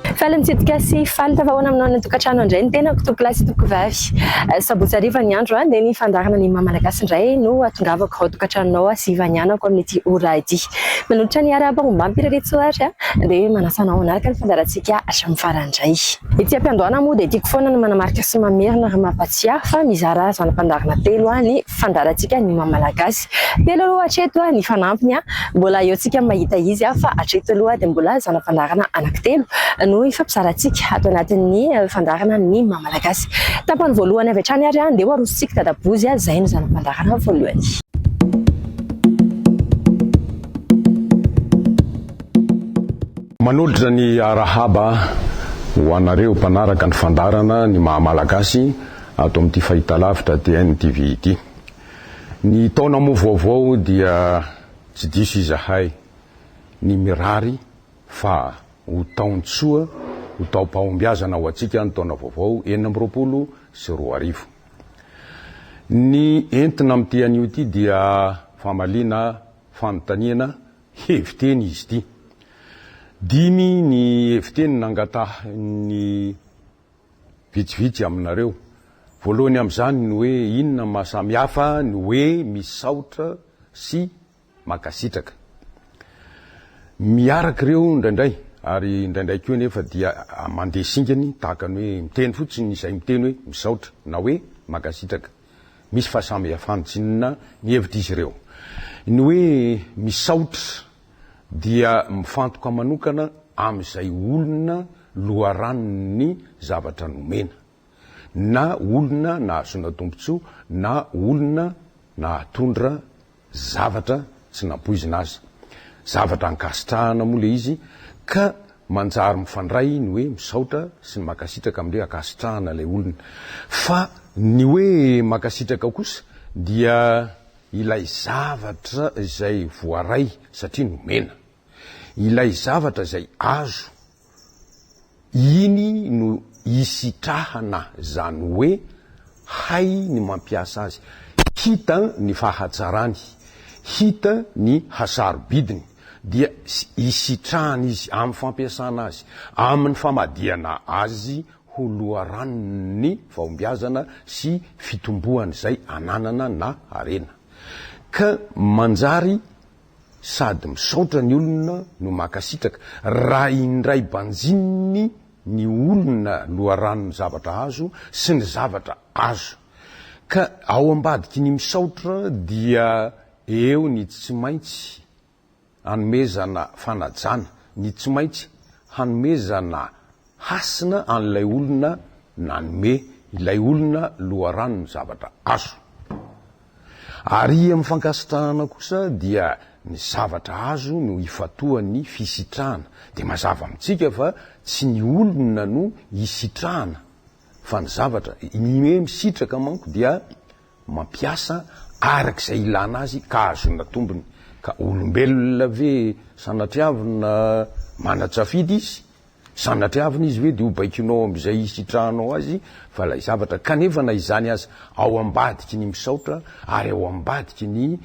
Faly nitsidika sy faly tafahoana aminao any an-tokantrano indray ny tenako tompolahy sy tompovavy. Sabotsy hariva ny andro dia ny fandaharana Ny Maha Malagasy indray no atongavako ao tokantranonao sy ivanianako amin'ity ora ity. Manolotra ny arahaba ombam-py Rary Tsoary dia manasa anao hanaraka ny fandaharantsika hatramin'ny farany indray. Ety am-piandohana moa dia tiako foana ny manamarika sy mamerina ary mampatsiahy fa mizara zana-pandaharana telo ny fandaharantsika Ny Maha Malagasy. Telo aloha hatreto ny fanampiny, mbola eo tsika mahita izy fa hatreto aloha dia mbola zana-pandaharana anankitelo no ifampizarantsika ato anatin'ny fandaharana ny maha malagasy. Tapany voalohany avy hatrany ary andeha ho arosontsika dadabozy izay no zana-pandaharana voalohany. Manolotra ny arahaba ho anareo mpanaraka ny fandaharana ny maha malagasy ato amin'ity fahitalavitra TNTV ity. Ny taona moa vaovao dia tsy diso izahay ny mirary fa ho taon-tsoa, ho taom-pahombiazana ho antsika ny taona vaovao enina amby roapolo sy roa arivo. Ny entina amin'ity anio ity dia famaliana fanontaniana hevi-teny izy ity. Dimy ny hevi-teny nangatahin'ny. vitsivitsy aminareo. Voalohany amin'izany ny hoe inona ny mahasamy hafa ny hoe misaotra sy mankasitraka. Miaraka ireo indraindray ary indraindray koa anefa dia mandeha singany tahaka ny hoe miteny fotsiny izay miteny hoe misaotra na hoe mankasitraka. Misy fahasamihafan-tsinona ny hevitr'izy ireo. Ny hoe misaotra dia mifantoka manokana amin'izay olona loharanon'ny zavatra nomena, na olona nahazoana tombontsoa na olona nahatondra zavatra tsy nampoizina aza. Zavatra ankasitrahana moa ilay izy ka manjary mifandray ny hoe misaotra sy ny mankasitraka amin'ny hoe ankasitrahana ilay olona. Fa ny hoe mankasitraka kosa dia Ilay zavatra izay voaray satria nomena. Ilay zavatra izay azo, iny no isitrahana izany hoe hay ny mampiasa azy, hita ny fahatsarany, hita ny hasarobidiny, dia isitrahana izy amin'ny fampiasana azy, amin'ny famadihana azy ho loharanon'ny fahombiazana sy fitomboan'izay ananana na harena. Ka manjary sady misaotra ny olona no mankasitraka raha indray banjininy ny olona loharanon'ny zavatra azo sy ny zavatra azo. Ka ao ambadiky ny misaotra dia eo ny tsy maintsy Hanomezana fanajana, ny tsy maintsy hanomezana hasina an'ilay olona nanome ilay olona loharanon'ny zavatra azo. Ary amin'ny fankasitrahana kosa dia ny zavatra azo no ifantohan'ny fisitrahana. Dia mazava amintsika fa tsy ny olona no isitrahana fa ny zavatra. Ny hoe misitraka manko dia mampiasa araka izay ilana azy ka ahazoana tombony. Ka olombelona ve sanatria avy na manan-tsafidy izy? Sanatria avy na izy ve dia ho baikonao amin'izay hisitrahanao azy? Fa ilay zavatra, kanefa na izany aza, ao ambadiky ny misaotra ary ao ambadiky ny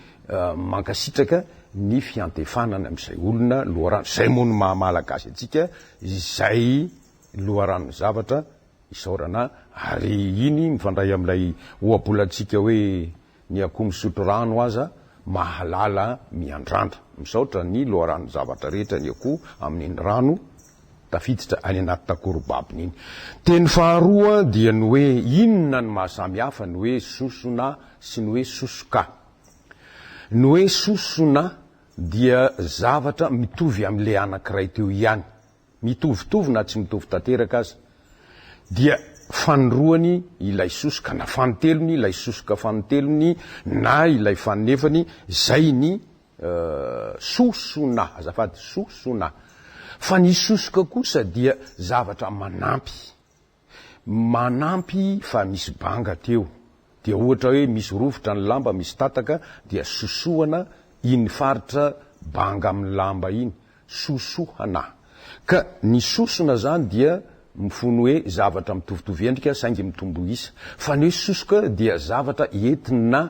mankasitraka ny fiantefanana amin'izay olona loharano, izay moa no maha-malagasy antsika, izay loharanon'ny zavatra, Isaorana ary iny mifandray amin'ilay ohabolantsika hoe ny akoho misotro rano aza mahalala miandrandra. Misaotra ny loharanon zavatra rehetra ny akoho amin'iny rano tafiditra any anaty takorobabony iny. Teny faharoa dia ny hoe inona ny mahasamy hafa ny hoe sosona sy ny hoe sosoka. Ny hoe sosona dia zavatra mitovy amin'ilay anankiray teo ihany mitovitovy na tsy mitovy tanteraka aza, dia fanindroany ilay sosoka na fanintelony ilay sosoka fanintelony na ilay faninefany, izay ny sosona, azafady, sosona. Fa ny sosoka kosa dia zavatra manampy. Manampy fa misy banga teo dia ohatra hoe misy rovitra ny lamba misy tataka dia sosohana iny faritra banga amin'ny lamba iny, sosohana. Ka ny sosona zany dia mifono hoe zavatra mitovitovy endrika saingy mitombo isa. Fa ny hoe sosoka dia zavatra entina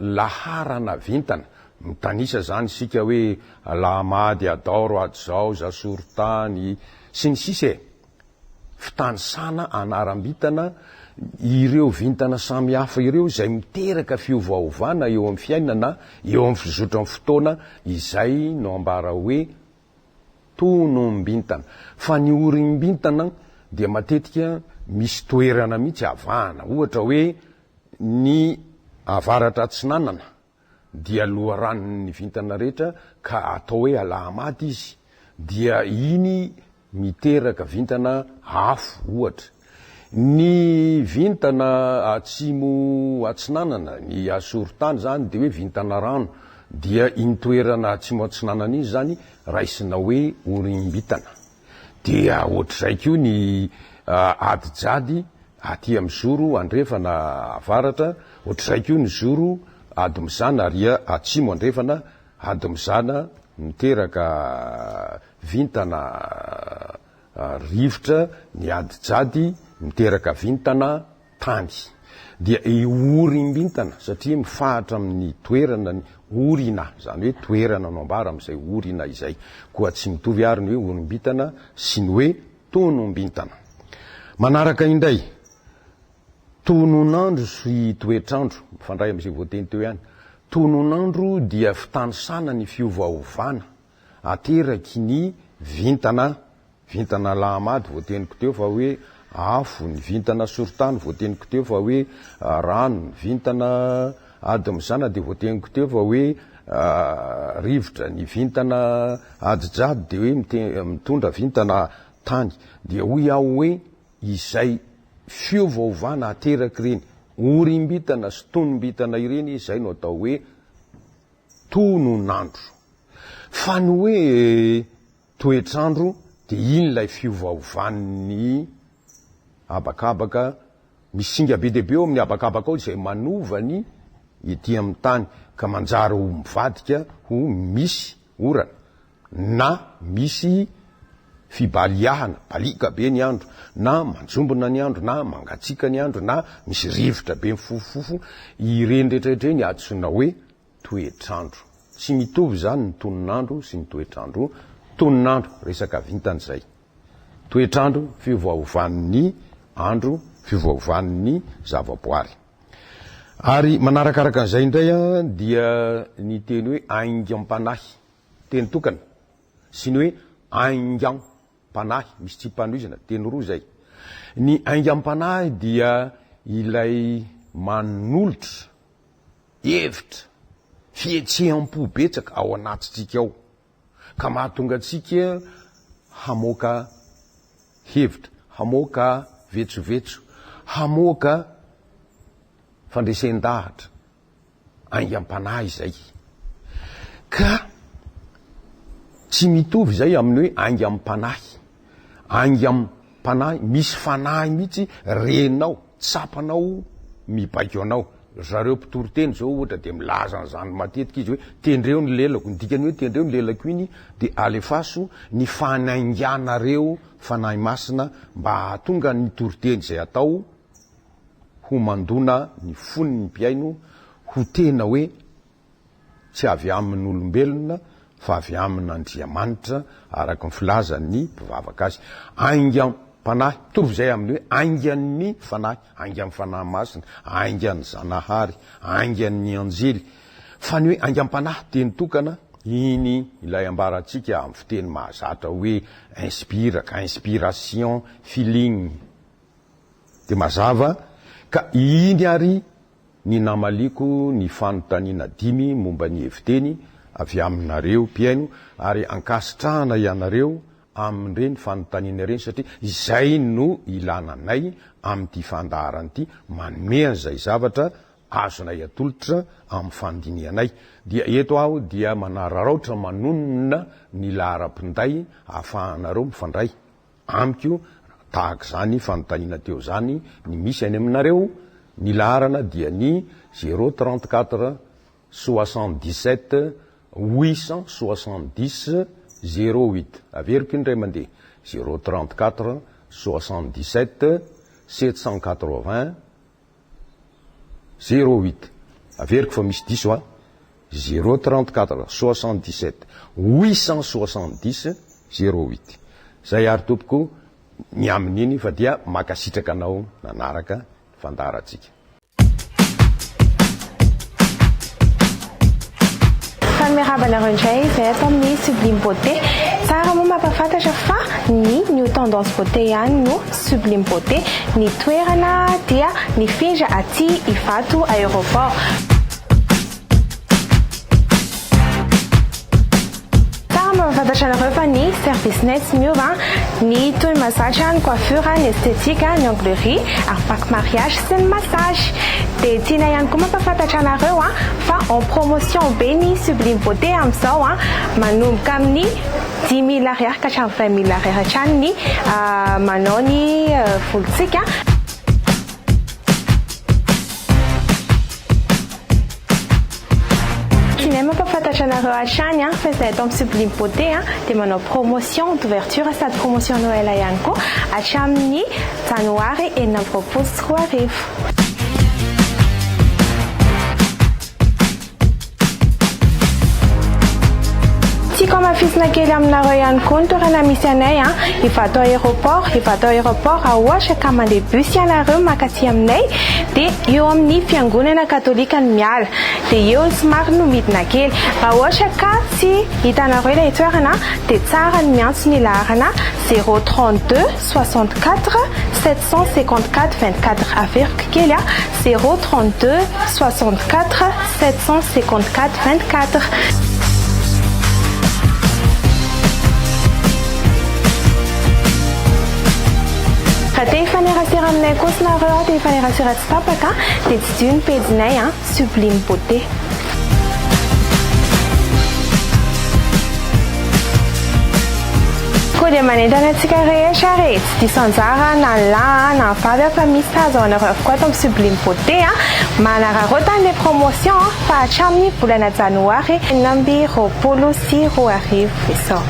laharana vintana. Mitanisa izany isika hoe Alahamady, Adaoro, Adizao, Zasorotany, sy ny sisa e! Fitanisana anaram-bintana ireo vintana samihafa ireo izay miteraka fiovaovana eo amin'ny fiainana, eo amin'ny fizotran'ny fotoana, izay no ambara hoe tonom-bintana. Fa ny orim-bintana dia matetika misy toerana mihitsy avahana, ohatra hoe, Ny avaratra atsinanana dia loharano ny vintana rehetra ka atao hoe Alahamady izy dia iny miteraka vintana afo ohatra. Ny vintana atsimo atsinanana, ny asorotany izany dia hoe vintana rano dia iny toerana atsimo atsinanana iny izany raisina hoe Orimbitana. Dia ohatr'izay koa ny ady jadi aty amin'ny zoro andrefana avaratra, ohatr'izay koa ny zoro ady mizana ary atsimo andrefana ady mizana miteraka vintana rivotra ny ady jadi miteraka vintana tany dia iorimbintana satria mifahatra amin' ny toerana ny orina, izany hoe toerana no ambara amin' izay orina izay. Koa tsy mitovy àry ny hoe orimbintana sy ny hoe tonombintana. Manaraka indray, tononandro sy toetrandro, mifandray amin' izay voateny teo ihany. Tononandro dia fitanisana ny fiovaovana ateraky ny vintana Vintana Alahamady voateniko teo fa hoe afo, ny vintana Sorotany voateniko teo fa hoe rano, ny vintana Ady Mizana dia voateniko teo fa hoe rivotra, ny vintana Ady Jado dia hoe mitondra vintana Tany. Dia hoy aho hoe izay fiovaovana ateraky ireny orimbitana sy tonombitana ireny izay no atao hoe tonon'andro. Fa ny hoe toetr'andro dia iny ilay fiovaovan'ny habakabaka, misy singa be dia be ao amin'ny habakabaka ao izay manova ny ety amin'ny tany ka manjary ho mivadika ho misy orana na misy fibaliahana, baliaka be ny andro na manjombona ny andro na mangatsiaka ny andro na misy rivotra be mifofofofo, ireny rehetra ireny antsoina hoe toetr'andro. Tsy mitovy izany ny tonon'andro sy ny toetr'andro, tonon'andro resaka vintana izay, toetr'andro fiovaovan'ny andro, fiovaovan'ny zavaboary. Ary manarakaraka an'izay indray dia ny teny hoe aingam-panahy, teny tokana, sy ny hoe aingam-panahy, misy tsipanohizana, teny roa izay. Ny aingam-panahy dia ilay manolotra. Hevitra, fihetseham-po betsaka ao anatintsika ao ka mahatonga antsika hamoaka hevitra, hamoaka vetsovetso, hamoaka fandresen-dahatra aingam-panahy izay. Ka tsy mitovy izay amin'ny hoe aingam-panahy. Aingam panahy misy fanahy mihitsy renao tsapanao mibaiko anao zareo mpitory teny zao ohatra de milaza an'zany matetika izy hoe tendreo ny lelako ny dikany hoe tendreo ny lelako iny de alefaso ny fanainganareo fanahy masina mba hahatonga ny tory teny zay atao ho mandona ny fon'ny mpihaino ho tena hoe tsy avy amin'olombelona fa avy amin'Andriamanitra araka ny filazan'ny mpivavaka azy, aingam-panahy, mitovy izay amin'ny hoe aingan'ny fanahy, aingan'ny Fanahy Masina, aingan'ny Zanahary, aingan'ny anjely, fa ny hoe aingam-panahy, teny tokana, iny ilay ambarantsika amin'ny fiteny mahazatra hoe inspiraka, inspiration, feeling, dia mazava ka iny ary ny namaliako ny fanontaniana dimy momba ny heviteny avy aminareo mpihaino ary ankasitrahana ianareo amin'ireny fanontaniana ireny satria izay no ilana anay amin'ity fandaharana ity manome an'izay zavatra azonay atolotra amin'ny fandinihanay dia eto aho dia manararaotra manonona ny laharam-pinday hahafahanareo mifandray Amiko, tahaka izany fanontaniana teo izany ny misy any aminareo, ny laharana dia ny zéro trente quatre soixante dix sept huit cent soixante dix zéro huit, averiko indray mandeha, zéro trente quatre soixante dix sept sept cent quatre vingt Zéro huit, averiko fa misy diso an! Zéro trente quatre, soixante dix sept, huit cent soixante dix, zéro huit. Zay ary tompoko ny amin'iny fa dia mankasitraka anao nanaraka ny fandaharantsika. Tany miarahaba anareo indray izay ato amin'ny Sublime Beauté. Tsara moa mampafantatra fa ny New Tendance Beauté ihany no Sublime Beauté. Ny toerana dia mifindra aty Ivato Aéroport. Tsara mba mifantatra anareo fa ny service nay tsy miova ny toy mazatra ny coiffure ny esthétique ny onglerie ary pack mariage sy ny massage de tianay ihany koa mampafantatra anareo fa en promotion be ny sublime beauté amizao manomboka amin'ny dimy mille ariary ka hatramin'ny vingt mille ariary hatrany ny manao ny volontsika. Tsy mahay mampafantatra anareo hatrany an, fa izahay eto amin'ny Sublime Beauté an dia manao promotion d'ouverture sady promotion Noël ihany koa hatramin'ny Janoary enina amby roapolo sy roa arivo. Tiako hamafisina kely aminareo ihany koa ny toerana misy anay an, Ivato Aéroport, Ivato Aéroport raha ohatra ka mandeha bus ianareo mankaty aminay Dia eo amin'ny fiangonana katolika no miala. Dia eo ny somary no midina kely. Raha ohatra ka tsy hitanareo ilay toerana dia tsara ny miantso ny laharana zéro trente deux soixante quatre sept cent cinquante quatre vingt quatre Averiko kely a, zéro trente deux soixante quatre sept cent cinquante quatre vingt quatre. Ra te hifanerasera aminay koa snareo a te hifanerasera tsy tapaka de tsidiho ny page nay a sublime beauté. Koa dia manentana antsika rehetra ary e, tsy diso anjara na ny lahy a, na ny vavy a, fa misy sazy ho anareo avokoa ato amin'ny Sublime Beauté a. Manararaotana ilay promotion fa hatramin'ny volana janoary enina amby roapolo sy roa arivo izao.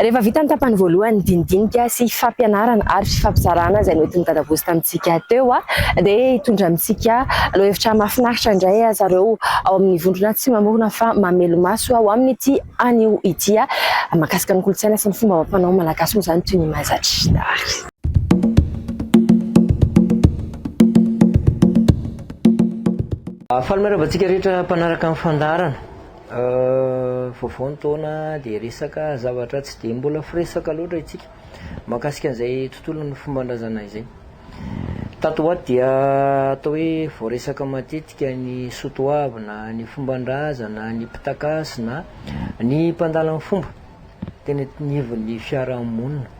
Rehefa vita ny tapany voalohany ny dinidinika sy fampianarana ary fampizarana izay noentin'i Dadabosy tamintsika teo dia hitondra amintsika lohahevitra mahafinaritra indray aza ireo ao amin'ny vondrona tsy mamorona fa mamelomaso ho amin'ity anio ity. Mahakasika ny kolontsaina sy ny fomba amam-panao malagasy moa izany toy ny mahazatra. Faly miarahaba antsika rehetra mpanaraka ny fandaharana. Vaovao ny taona dia resaka zavatra tsy dia mbola firesaka loatra itsika mahakasika an'izay tontolon'ny fomban-drazana izay. Tato ho ato dia atao hoe voaresaka matetika ny soatoavy na ny fomban-drazana, ny mpitankasy na ny mpandala ny fomba teny anivon'ny fiarahamonina.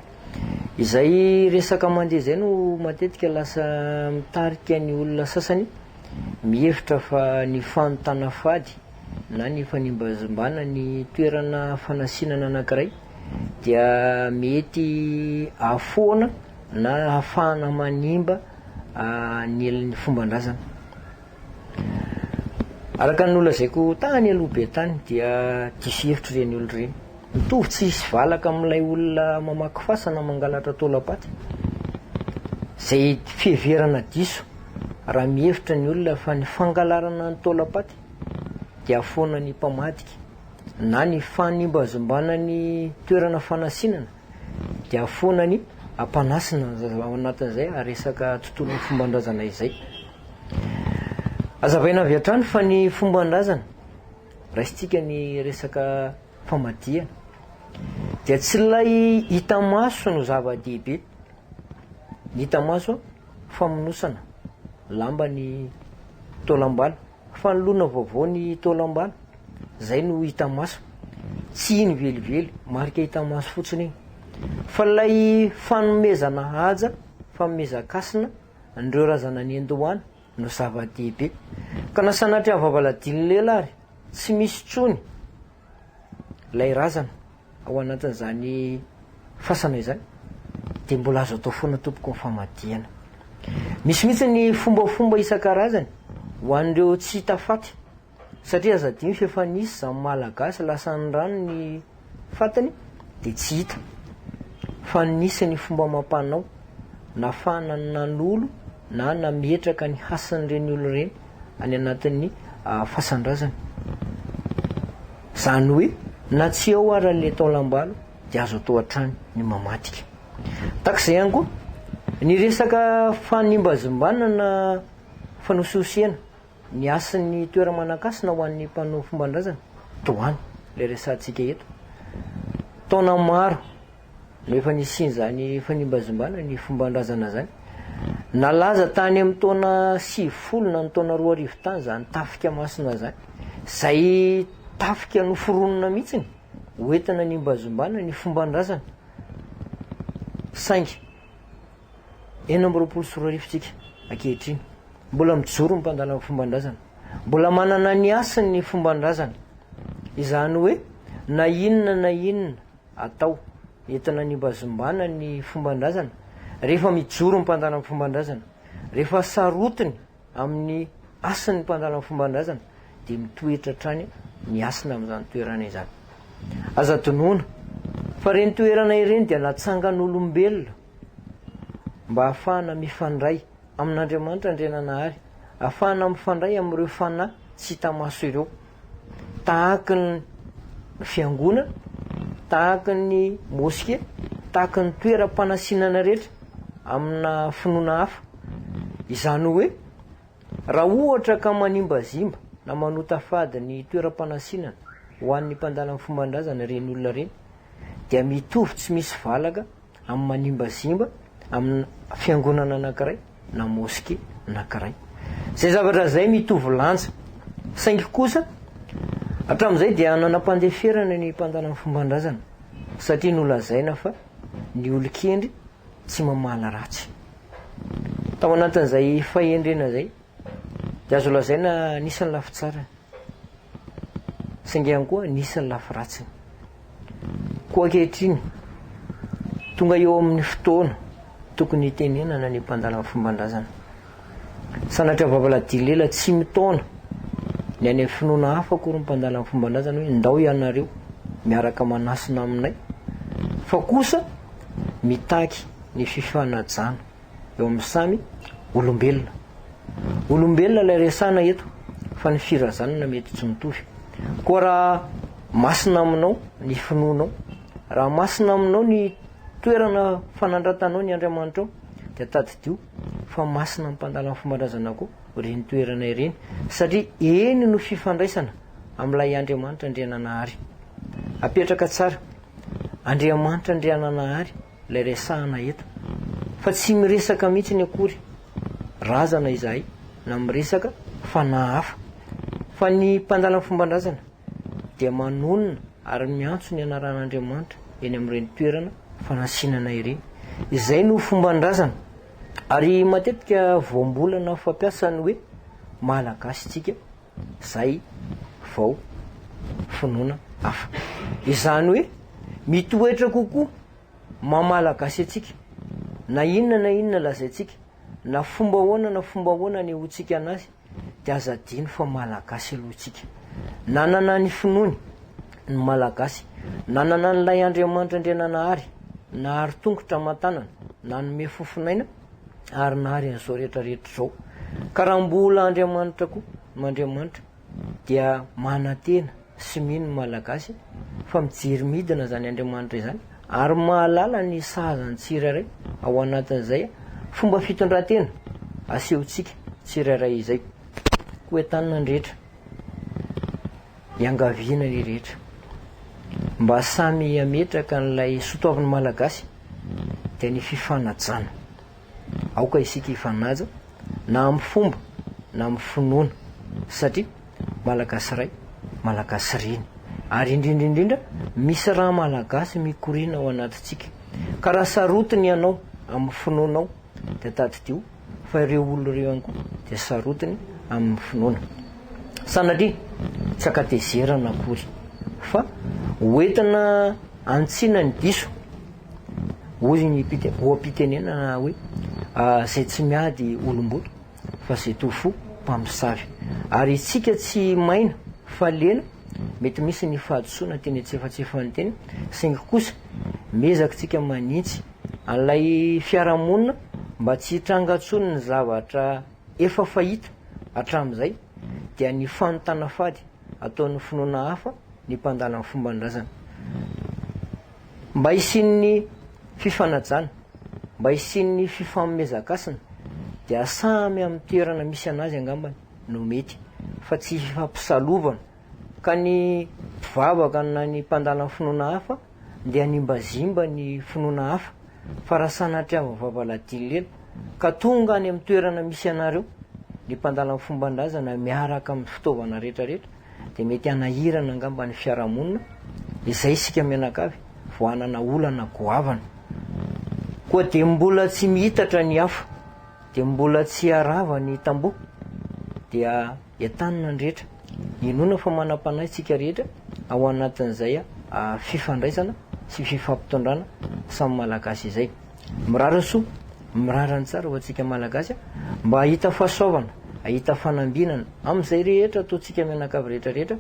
Izay resaka mandeha izay no matetika lasa mitarika ny olona sasany mihevitra fa ny fanontana fady na ny fanimbazimbana ny toerana fanasinana anankiray dia mety ahafoana na ahafahana manimba ny ny fomban-drazana. Araka ny nolazaiko tany aloha be tany dia diso hevitra ireny olona ireny. Mitovy tsy hisy valaka amin'ilay olona mamaky fasana mangalatra taolam-paty. Izay fiheverana diso raha mihevitra ny olona fa ny fangalarana ny taolam-paty dia foana ny mpamadika na ny fanimbazimbana ny toerana fanasinana dia foana ny ampanasina ao anatin'izay resaka tontolon'ny fomban-drazana izay. Azavaina avy hatrany fa ny fomban-drazana raisintsika ny resaka famadihana dia tsy ilay hita maso no zava-dehibe. Ny hita maso famonosana lamba ny taolam-bala, fanoloana vaovao ny taolam-bala, izay no hita maso. Tsy iny velively, marika hita maso fotsiny iny. Fa ilay fanomezana haja, fanomezan-kasina an'ireo razana niandohana no zava-dehibe. Ka na sanatria ny vavaladin'ny lela ary tsy misy intsony ilay razana ao anatin'izany fasana izany dia mbola azo atao foana tompoko ny famadihana. Misy mihitsy ny fombafomba isan-karazany ho an'ireo tsy hita faty. Satria aza adino fa efa nisy izany Malagasy lasan'ny rano ny fatiny dia tsy hita fa nisy ny fomba amam-panao nafahana ny nanolo na nametraka ny hasin'ireny olona ireny any anatin'ny fasan-drazana. Izany hoe na tsy eo ary ilay taolam-balo dia azo atao hatrany ny mamadika. Tahaka izay ihany koa ny resaka fanimbazimbanana fanosihosena Ny hasin'ny toera-manan-kasina ho an'ny mpanao fomban-drazana toa an' ilay resahantsika eto. Taona maro no efa nisian'izany fanimbazimbana ny fomban-drazana izany. Nalaza tany amin'ny taona sivifolo na ny taona roa arivo tany izany tafika masina izany, izay tafika noforonina mihitsiny ho entina hanimbazimbana ny fomban-drazana, saingy. Enina amby roapolo sy roa arivo tsika ankehitriny. Mbola mijoro ny mpandala ny fomban-drazana. Mbola manana ny hasiny ny fomban-drazana. Izany hoe na inona na inona atao entina hanibazimbana ny fomban-drazana, rehefa mijoro ny mpandala ny fomban-drazana, rehefa sarotiny Amin'ny hasin'ny mpandala ny fomban-drazana dia mitoetra hatrany ny hasina amin'izany toerana izany. Aza adinoina fa ireny toerana ireny dia natsangan'olombelona mba hahafahana mifandray amin'Andriamanitra Andriananahary, hahafahana mifandray amin'ireo fanahy tsy hita maso ireo. tahaky ny fiangonana, tahaky ny moske, tahaky ny toeram-panasinana rehetra amina finoana hafa. Izany hoe raha ohatra ka manimbazimba na manota fady ny toeram-panasinana ho an'ny mpandala ny fomban-drazana ireny olona ireny dia mitovy tsy misy valaka amin'ny manimbazimba amina fiangonana anankiray na moske anankiray. Izay zavatra izay mitovy lanja. Saingy kosa, hatramin'izay dia nanam-pandeferana ny mpandala ny fomban-drazana, satria nolazaina fa ny olon-kendry tsy mamaly ratsy. Tao anatin'izay fahendrena izay, Dia azo lazaina nisy ny lafy tsarany. Saingy ihany koa nisy ny lafy ratsiny. Koa ankehitriny, tonga eo amin'ny fotoana tokony hitenenana ny mpandala ny fomban-drazana. Sanatria vavalahidilela tsy mitaona ny any amin'ny finoana hafa akory ny mpandala ny fomban-drazana hoe ndao ianareo miaraka manasina aminay fa kosa mitaky ny fifanajana. eo amin'ny samy olombelona. Olombelona ilay resahana eto fa ny firazanana mety tsy mitovy. Koa raha masina aminao ny finoanao, raha masina aminao ny toerana fanandratanao ny Andriamanitrao, dia tadidio fa masina amin'ny mpandalan'ny fombandrazana koa ireny toerana ireny satria eny no fifandraisana amin'ilay Andriamanitra Andriananahary. Apetraka tsara. Andriamanitra Andriananahary ilay resahana eto fa tsy miresaka mihitsiny akory razana izahay na miresaka fanahy hafa fa ny mpandala ny fomban-drazana dia manonona ary miantso ny anaran'Andriamanitra eny amin'ireny toerana fanatsinana ireny izay no fomban-drazana ary matetika voambolana fampiasa ny hoe malagasy tsika Zay vao finoana hafa. Izany hoe mitoetra kokoa maha Malagasy antsika, na inona na inona lazaintsika, na fomba ahoana na fomba ahoana anehoantsika anazy, dia aza adino fa Malagasy aloha isika. Nanana ny finoany ny Malagasy, nanana an'ilay Andriamanitra Andriananahary nahary tongotra aman-tanana, nanome fofonaina, ary nary an'izao rehetra rehetra izao ka raha mbola Andriamanitra koa mandriamanitra dia manantena sy mino ny malagasy fa mijery midina izany Andriamanitra izany ary mahalala ny sahazany tsirairay ao anatin'izay fomba fitondran-tena asehontsika tsirairay izay koa entanina ny rehetra Iangaviana ry rehetra mba samy hametraka an'ilay soatoavin'ny Malagasy dia ny fifanajana. Aoka isika hifanaja na amin'ny fomba na amin'ny finoana satria Malagasy Ray, Malagasy Reny ary indrindra indrindra misy ra Malagasy mikoriana ao anatintsika. Ka raha sarotiny ianao amin'ny finoanao dia tadidio. Fa ireo olona ireo ihany koa dia sarotiny amin'ny finoana. Sanatria tsy an-katezerana akory fa ho entina hanitsiana ny diso. Hoy ny oha-pitenenana hoe, izay tsy miady olom-boto fa izay toa fo mpamosavy. Ary isika tsy maina fa lena mety misy ny fahadisoana teny antsefatsefan'ny tena, saingy kosa miezaka isika manitsy an'ilay fiarahamonina mba tsy hitranga intsony ny zavatra efa fahita hatramin'izay dia ny fanontana fady ataon'ny finoana hafa ny mpandala ny fomban-drazana. Mba hisian'ny fifanajana, mba hisian'ny fifanomezan-kasina dia samy amin'ny toerana misy an'azy angambany no mety fa tsy hifampisalovana. Ka ny mpivavaka na ny mpandala finoana hafa dia hanimbazimba ny finoana hafa, fa raha sanatria voavava ladinlila, ka tonga any amin'ny toerana misy anareo, ny mpandala fomban-drazana miaraka amin'ny fitaovana rehetrarehetra, dia mety hanahirana angamba ny fiarahamonina, izay isika mianakavy vao hanana olana goavana. Koa dia mbola tsy mihitatra ny afo, dia mbola tsy harava ny tamboho, dia. Entanina ny rehetra. Inoana fa manam-panahy isika rehetra ao anatin'izay fifandraisana sy fifampitondrana samy Malagasy izay. Mirary soa, mirary ny tsara ho antsika Malagasy mba hahita fahasoavana, hahita fanambinana amin'izay rehetra ataontsika mianakavy rehetra rehetra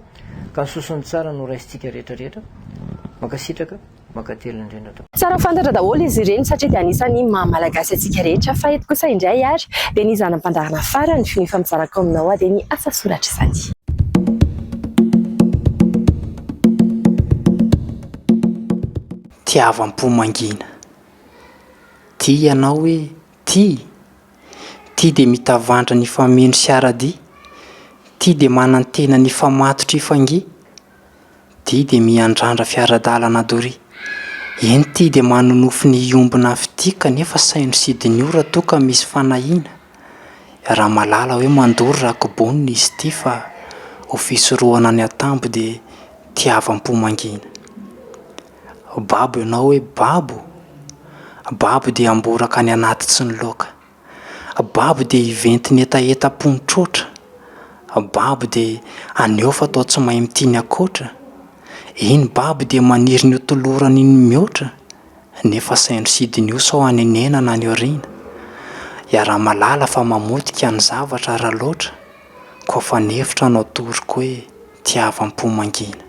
ka soa sy ny tsara no raisintsika rehetra rehetra. Mankasitraka. Mankatelina indrindra tompoko. Tsara fantatra daholo izy ireny satria dia anisan'ny maha malagasy antsika rehetra fa eto kosa indray ary dia ny zanany mpandaharana farany no efa mizara ko aminao ady ny asa soratra izany. Tiavam-po mangina. Tia ianao hoe tia. Tia dia mitavandra ny fameno sy ara-dia. Tia dia manantena ny hifamatotra hifangia. Ity dia miandrandra fiara-dalana doria. Eny ity dia manonofy ny hiombona avy ity kanefa saino sidin'io raha toa ka misy fanahiana. Ramalala hoe mandoro raha kobonina izy ity fa ho fisorohana ny atambo dia tiavam-po mangina. Babo ianao hoe babo? Babo dia amboraka any anaty tsy ny loaka. Babo dia hiventy ny hetahetam-pony trotra. Babo dia haneho fa toa tsy mahay mitia ny ankoatra. Eny, babo dia maniry ny hotolorany ny mihoatra, nefa saino sidiny io sao hanenena na any aoriana. Iaraha-mahalala fa mamotika ny zavatra raha loatra, koa fa ny hevitra no atoroko hoe tiavam-po mangina.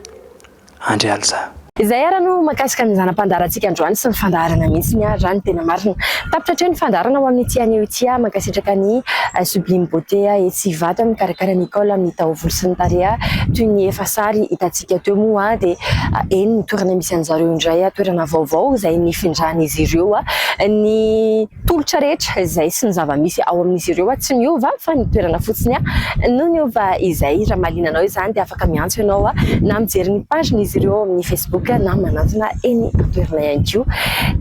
Andry Alza. Izay ara no mahakasika ny zana-pandaharantsika androany sy ny fandaharana misy ny ahy zany tena marina tapitra hatreo ny fandaharana ho amin'ity anio ity aho mankasitraka an'i Sublime Beauté etsy Ivato mikarakara an'i Nicole amin'ny taovolo sy ny tareha toy ny efa sary hitantsika teo moa aho dia eny ny toerana misy an'zareo indray aho toerana vaovao izay nifindran'izy ireo ny Tolotra rehetra izay sy ny zava-misy ao amin'izy ireo tsy niova fa ny toerana fotsiny no niova izay. Raha mahaliana anao izany dia afaka miantso ianao na mijery ny pagen'izy ireo ao amin'ny Facebook na manantona eny an-toerana ihany koa.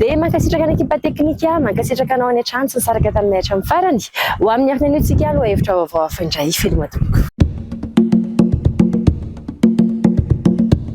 Dia mankasitraka ny ekipa teknika, mankasitraka anao any an-trano tsy nisaraka taminay hatramin'ny farany. Ho amin'ny hafiny anio tsika lohahevitra vaovao hafa indray. Veloma tompoko.